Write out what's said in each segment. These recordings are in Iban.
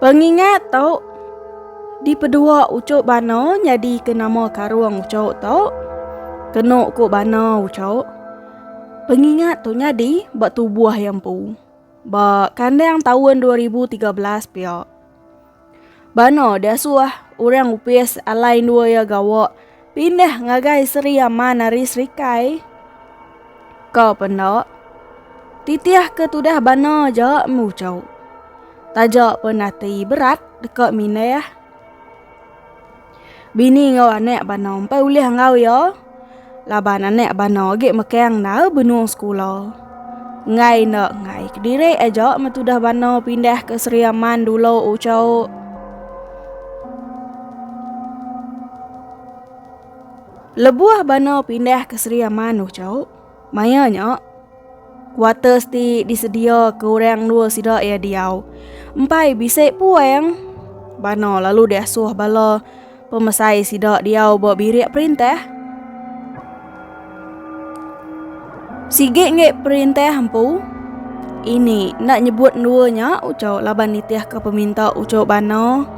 Pengingat tu dipedua ucuk bana nyadi ke nama karung ucuk tu. Kenu ku bana ucuk. Pengingat tu nyadi ba tubuh iya empu. Ba kandang taun 2013 pia. Bana diasuh orang opis alai endur iya gawa Pindah ngagai Sri Aman ari Serikai. Ka apa enda? Titih ke tudah bana aja embu chau. Taja pun ati berat deka mindah. Bini enggau anak bana empai ulih enggau iya laban anak bana agi mekang enda benung sekula. Enggai enda enggai kediri aja metudah bana pindah ke Sri Aman dulu ucau. Lebuh bana pindah ke Sri Aman ucau. Maya nya kuarters ti disedia ke orang dua sida ia diau. Empai bisi puang bana lalu diasuh bala Pemesai sida diau ba birik perintah. Sigi ngi perintah empu. Ini nak nyebut dua nya ucau laban nitih ke peminta ucau bana.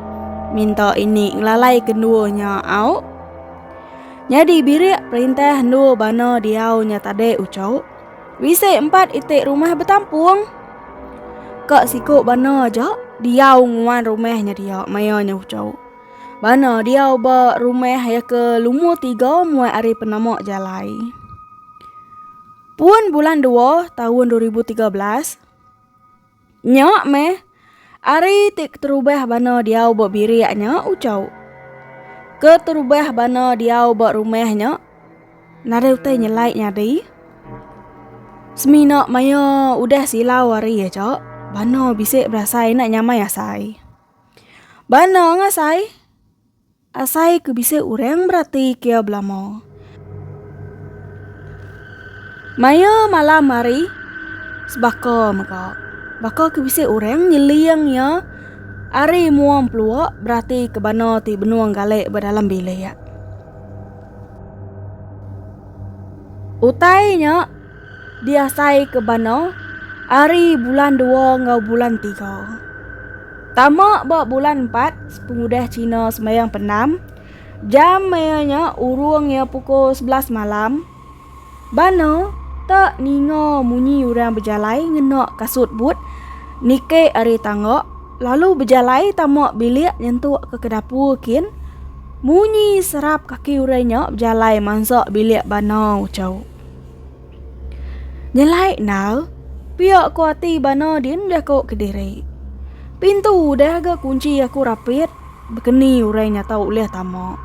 Minta ini ngelalai kedua nya au. Nyadi birik perintah dua bana diau nya tadi ucau. Bisi empat itik rumah betampung. Kak siku bana aja diau nguan rumah nya dia maya nya ucau. Bana diau ba rumah ya ke lumu tiga muat ari penama jalai. Pun bulan dua tahun 2013, nya meh ari ti keterubah bana diau ba birik nya ucau. Keterubah bana diau ba rumah nya nadai utai nyelai nyadi. Semina maya udah silau hari ya cak, bana bisi berasai nak nyamai asai. Bana anga sai. Asai ke bisi urang berati kia belama. Maya malam hari sebaka mega. Baka ke bisi urang nyeling iya ari muang pelua berati ke bana ti benung galek ba dalam bilik. Utai nya. diasai ke bano ari bulan dua enggau bulan tiga. Tama ba bulan empat pengudah Cina sembahyang penam, jam maya nya urung iya pukul sebelas malam, bano te ninga munyi orang bejalai ngena kasut but nike ari tangga lalu bejalai tama bilik nyentuk ke ke dapur kin munyi serap kaki orang nya bejalai mansa bilik bano chau. Nyelai endal, pia ku ati bana din deh ko kediri. Pintu udah ga kunci aku rapit, bekeni orang nya tau ulih tama.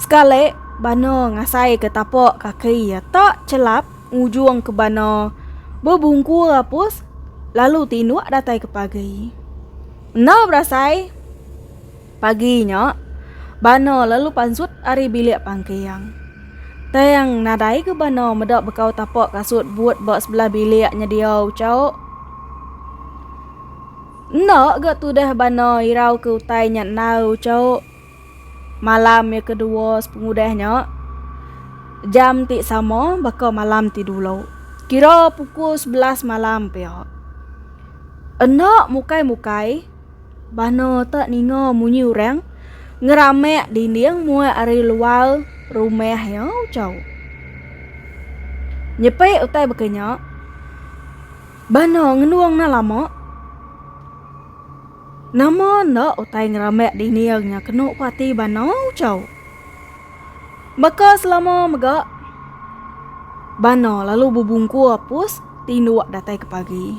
Sekali bana ngasai ke tapa kaki iya tak chelap ngujung ke bana bebungkur apus lalu tinduk datai ke pagi. Enda berasai. Pagi nya, Bano lalu pansut ari bilik pangking. Tang nadai ke Bano meda bekau tapak kasut but ba sebelah bilik nyedia ucau. Enda ga tudah Bano irau ke utai nya enal ucau. Malam ya kedua sepengudah nya, jam ti sama baka malam ti dulu. Kira pukul sebelas malam pia. Enda mukai-mukai. Bano te ninga munyi orang ngeramek dinding muai ari luar rumah iya ucau. Nyepi utai baka nya. Bano ngenung enda lama. Nama enda utai ngeramek dinding nya kena ku ati bano ucau. Baka selama mega bano lalu bebungkur pus tinduk datai ke pagi.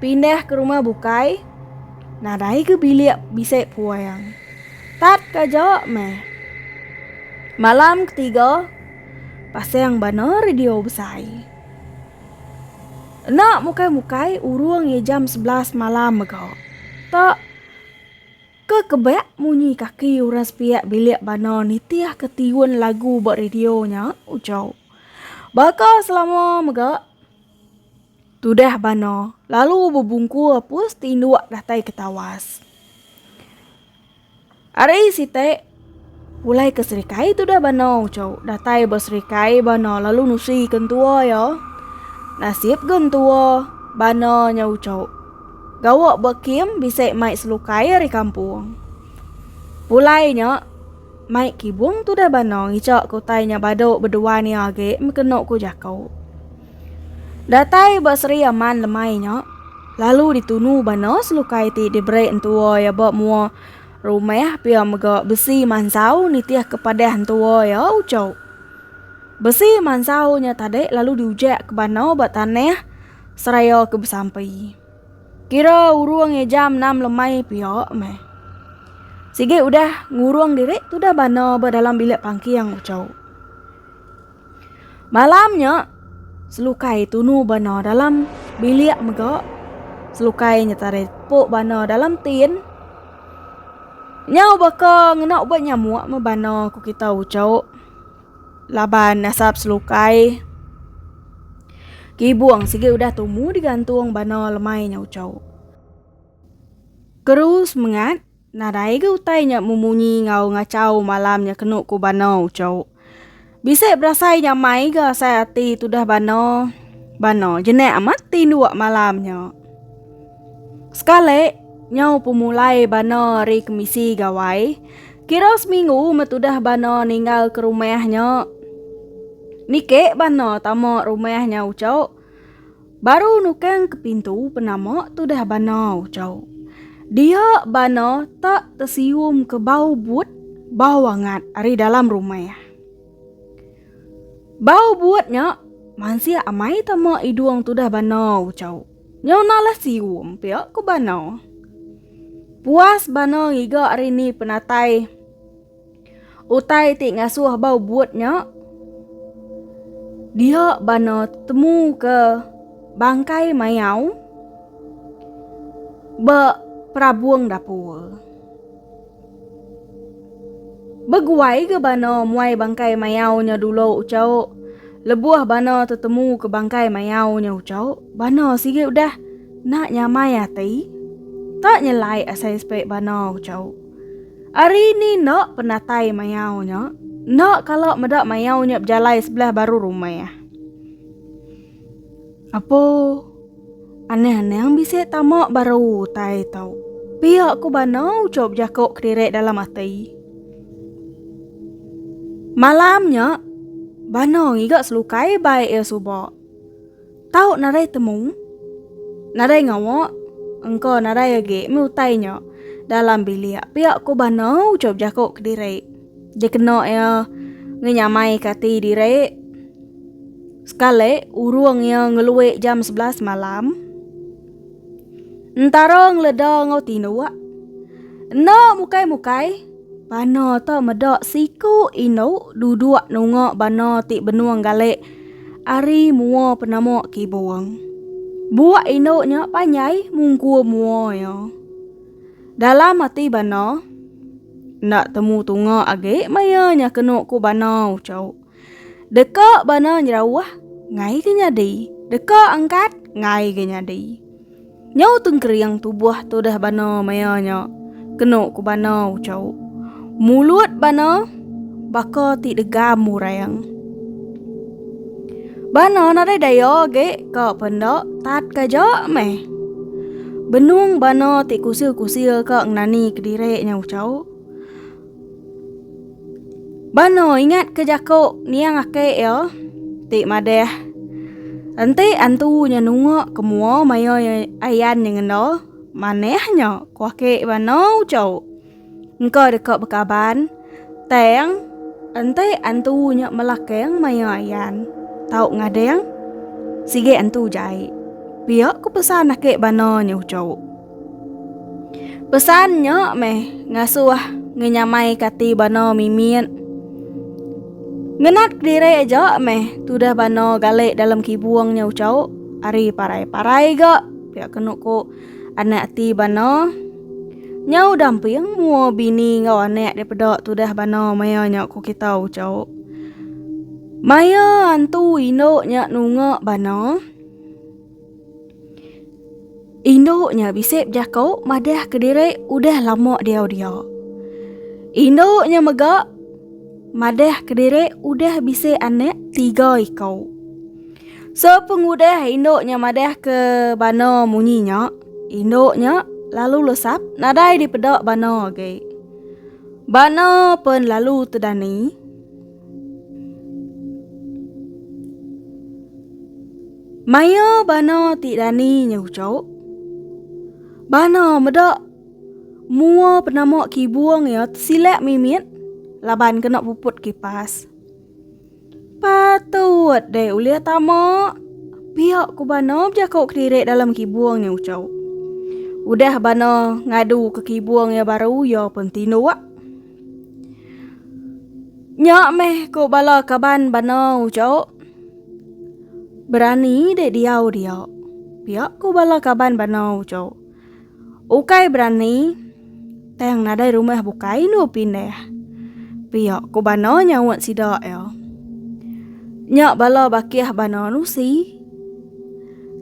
Pindah ke rumah bukai, nadai ke bilik bisi puang. Tat kaja meh. Malam ketiga, pasang bana radio besai. Ena mukai-mukai urung iya jam sebelas malam mega. Ta, ke kebak munyi kaki orang sepiak bilik bana nitih ke tiun lagu ba radio nya, ujo. Baka selama mega. Tudah Bano lalu bebungkur apus tinduk datai ke tawas. Ari sitek, pulai ke serikai tudah Bano ucau datai ba serikai Bano lalu nusi ke entua iya. Nasib ga entua Bano nya ucau gawa ba kem bisi mai selukai ari kampung. Pulai nya. Mai kibung tudah bano ngichok ke utai nya badu bedua ni agi mekenu ku jaku. Datai ba Sri Aman lemai nya lalu ditunu bano selukai ti diberi entua ya ba mua rumah pia mega besi mansau nitih ke padah entua ya uchu. Besi mansau nya tadi lalu diujak ke bano ba tanah seraya ke besampi. Kira urung iya jam enam lemai pia meh. Sigi udah ngurung diri tudah bana ba dalam bilik pangking uchu. Malam nya selukai tunu bana dalam bilik mega selukai nyetari tepu bana dalam tin. Nyau baka ngena ubat nyamuk meh bana ku kita uchu. Laban nasab selukai kibung sigi udah tumu digantung bana lemai nya ucau. Keru semengat nadai ga utai nya memunyi enggau ngacau malam nya kenu ku bana ucau. Bisi berasai nyamai ga asai ati tudah bana bana jenik amat ti nduak malam nya. Sekali, nyau pemulai Bana ari kemisi gawai, kira seminggu met udah Bana ninggal ke rumah nya. Niki Bana tama rumah nya uco. Baru nukang ke pintu penama tudah Bana uco. Dia Bana tak tesium ke bau but, bau angat ari dalam rumah. Bau but nya mansik amai tama idung tudah Bana uco. Nyau nalah sium pia ku Bano. Puas Bano ngiga ari ni penatai utai ti ngasuh bau but nya. Dia Bano temu ke bangkai mayau ba perabung dapur. Beguai ga bana muai bangkai mayau nya dulu ucau. Lebuh bana tetemu ke bangkai mayau nya ucau, bana sigi udah enda nyamai ati. Enda nyelai asai sepai bana ucau. Ari ni enda penatai mayau nya, enda kala meda mayau nya bejalai sebelah baru rumah. Apo aneh anang bisi tama baru utai tau. Pia ku bana uco bejako kediri dalam ati. Malam nya bana ngiga selukai bai ia suba. Tau nadai temu, nadai ngawa engka nadai agi meh utai nya dalam bilik pia ku bana uco bejako kediri. Dikena iya ngenyamaika ati diri. Sekali, urung iya ngelui jam sebelas malam, entara ngeleda enggau tinduk enda mukai-mukai bana tu meda siku indu duduk nunga bana ti benung gali ari mua penama kibung. Buak indu nya panjai mungkur mua iya. Dalam ati bana, Enda temu tunga agi maya nya kenu ku bana ucau. Deka bana nyerauh, ngai ke nyadi. Deka angkat, ngai ke nyadi. Nyau tengkering tubuh tudah bana maya nya kenu ku bana ucau. Mulut bana baka ti degam orang. Bana nadai daya agi ka penda tat kaja meh. Benung bana ti kusil-kusil ka ngenani kediri nya ucau. Bana ingat ke jaku niang aki iya ti madah enti antu nya nunga ke mua maya ayan nya ngenda manah nya ku aki bana ucau. Engka deka bekaban. Tang, enti antu nya melakang maya ayan, tau ngadang. Sigi antu jai. Pia ku pesan ake bana nya uchu. Pesan nya meh ngasuh ngenyamai kati bana mimit. Ngenat kediri aja meh tudah bana gale dalam kibung nya uchu. Ari parai-parai ga pia kenu ku. anak ti bano. Nyau damping mua bini enggau anak daripada tudah bano maya nya ku kita ucau. Maya antu indu nya nunga bano, indu nya bisi bejako madah kediri udah lama diau dia. Indu nya mega madah kediri udah bisi anak tiga iko. Sepengudah indu nya madahka bana munyi nya, indu nya lalu lesap nadai dipeda bana agi. Bana pen lalu tedani. Maya bana ti dani nya uchok, bana meda mua penama kibung iya tesilak mimit laban kena puput kipas. Patut deh ulih tama. Pia ku Bana bejako kediri dalam kibung nya Ucho. Udah Bana ngadu ke kibung nya baru iya pun tinduk. Nya meh ku bala kaban Bana Ucho. Berani deh diau dia. Pia ku bala kaban Bana Ucho. Ukai berani, tang nadai rumah bukai enu pindah. Pia ku Bana nyaut sida iya. Nya bala bakih Bana nusi.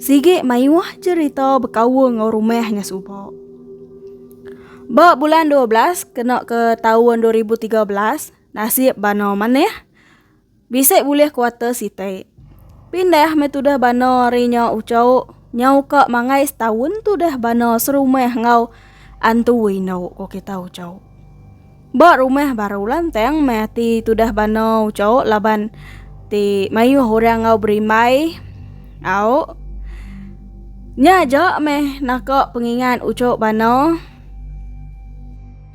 Sigi mayuh cherita bekaul enggau rumah nya suba. Ba bulan dua belas kena ke taun dua ribu tiga belas, nasib Bana manah Bisi bulih kuata siti. Pindah meh tudah bana ari nya uco nyau ka mangai setaun tudah bana serumah enggau antu indu ko kita uco. Ba rumah baru lantang meh ati tudah bana uco laban ti mayuh orang enggau berimbai au nya aja meh naka pengingat uco bana.